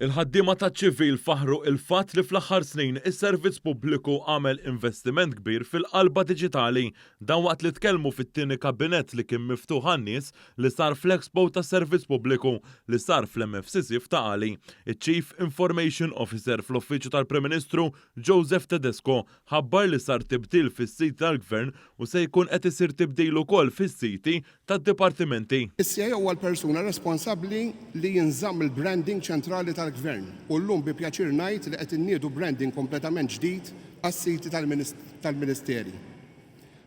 Il-ħaddiema taċ-ċivil faħħru il-fatt li fl-aħħar snin is-servizz pubbliku għamel investiment kbir fil-qalba diġitali. Dan waqt li tkellmu fit-tieni kabinett li kien miftuħ għan-nies li sar fl-Expo tas-Servizz Pubbliku li sar fl-MFCC f'Ta' Qali. Iċ-Chief Information Officer fl-Uffiċċju tal-Prim Ministru, Joseph Tedesco, ħabbar li sar tibdil fis-siti tal-Gvern u se jkun qed isir tibdil ukoll fis-siti tad-dipartimenti. Is-CIO huwa l-persuna responsabbli li jinżamm il-branding ċentrali tal-Gvern u llum bi pjaċir ngħid li qed inniedu branding kompletament ġdid għas-siti tal-Ministeri.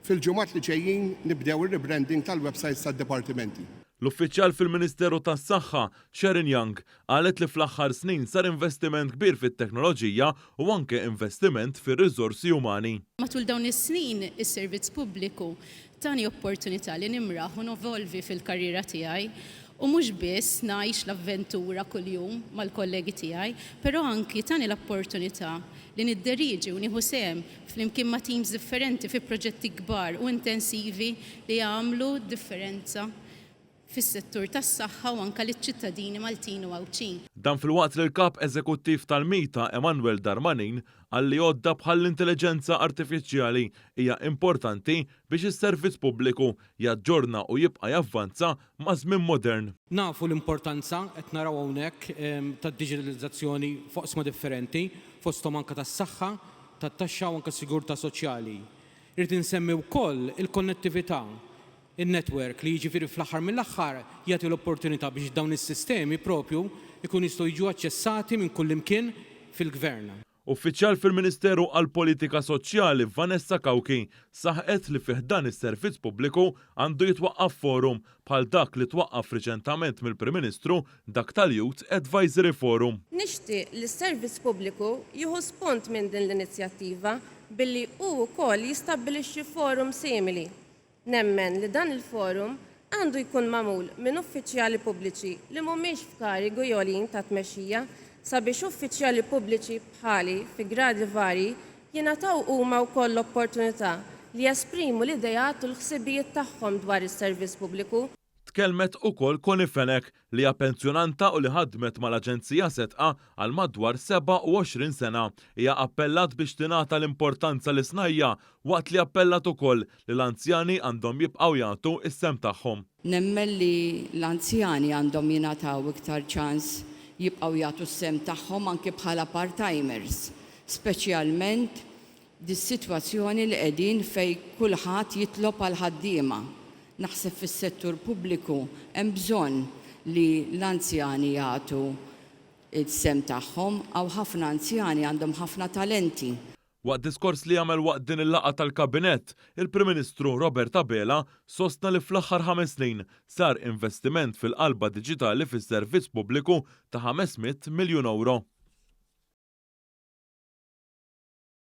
Fil-ġimgħat li ġejjin nibdew ir-rebranding tal-websites tad-dipartimenti. L-uffiċjal fil-Ministeru tas-Saħħa, Sharon Young, Qalet li fl-aħħar snin sar investiment kbir fit-teknoloġija u anke investiment fir-riżorsi umani. Matul dawn is-snin, is-servizz pubbliku tani opportunità li nimraħ u nevolvi fil-karriera tiegħi u mhux biss ngħix l-avventura kuljum mal-kollegi tiegħi, però anki tani l-opportunità li nidderieġi u nieħu sehem flimkien ma' teams differenti fi proġetti kbar u intensivi li għamlu differenza fis-settur tas-saħħa u anke liċ-ċittadini Maltin u Għawdxin. Dan filwaqt li l-Kap Eżekuttiv tal-MITA, Emmanuel Darmanin, qal li għodda bħall-intelliġenza artifiċjali hija importanti biex is-servizz pubbliku jaġġorna u jibqa' javvanza maż-żmien modern. Nafu l-importanza, qed naraw hawnhekk, tad-diġitalizzazzjoni f'oqsma differenti, fosthom anke tas-saħħa, tat-taxxa u anke s-sigurtà soċjali. Irrid insemmi wkoll il-konnettività in-network, li jiġifieri fl-aħħar mill-aħħar jagħti l-opportunità biex dawn is-sistemi proprju jkunu jistgħu jiġu aċċessati minn kullimkien fil-Gvern. Uffiċjal fil-Ministeru għall-Politika Soċjali, Vanessa Cauchi, saħqet li fi ħdan is-servizz pubbliku għandu jitwaqqaf forum, bħal dak li twaqqaf riċentament mill-Prim Ministru, dak tal-Youth Advisory Forum. Nixtieq li s-servizz pubbliku jieħu spunt minn din l-inizjattiva billi hu wkoll jistabbilixxi forum simili Nemmen li dan il-forum għandu jkun magħmul minn uffiċjali pubbliċi li mhumiex f'karigi għoljin ta' tmexxija sabiex uffiċjali pubbliċi bħali fi gradi varji jingħataw huma wkoll l-opportunità li jesprimu l-ideat u l-ħsibijiet tagħhom dwar is-servizz pubbliku Tkellmet ukoll Connie Fenech, li hija pensjonanta u li ħadmet mal-Aġenzija Setqa għal madwar 27 sena. Hija appellat biex tingħata l-importanza lis-snajja', waqt li appellat ukoll li l-anzjani għandhom jibqgħu jagħtu s-sehem tagħhom. Nemmen li l-anzjani għandhom jingħataw iktar ċans jibqgħu jagħtu s-sehem tagħhom anki bħala part-timers, speċjalment Dis-sitwazzjoni li qegħdin fejn kulħadd jitlob għal ħaddiema. Naħseb fis-settur pubbliku hemm bżonn li l-anzjani jagħtu s-sehem tagħhom. Hawn ħafna anzjani għandhom ħafna talenti. Waqt diskors li għamel waqt din il-laqgħa tal-Kabinett, il-Prim Ministru Robert Abela sostna li fl-aħħar ħames snin sar investiment fil-qalba diġitali fis-servizz pubbliku ta' ħames mitt miljun ewro.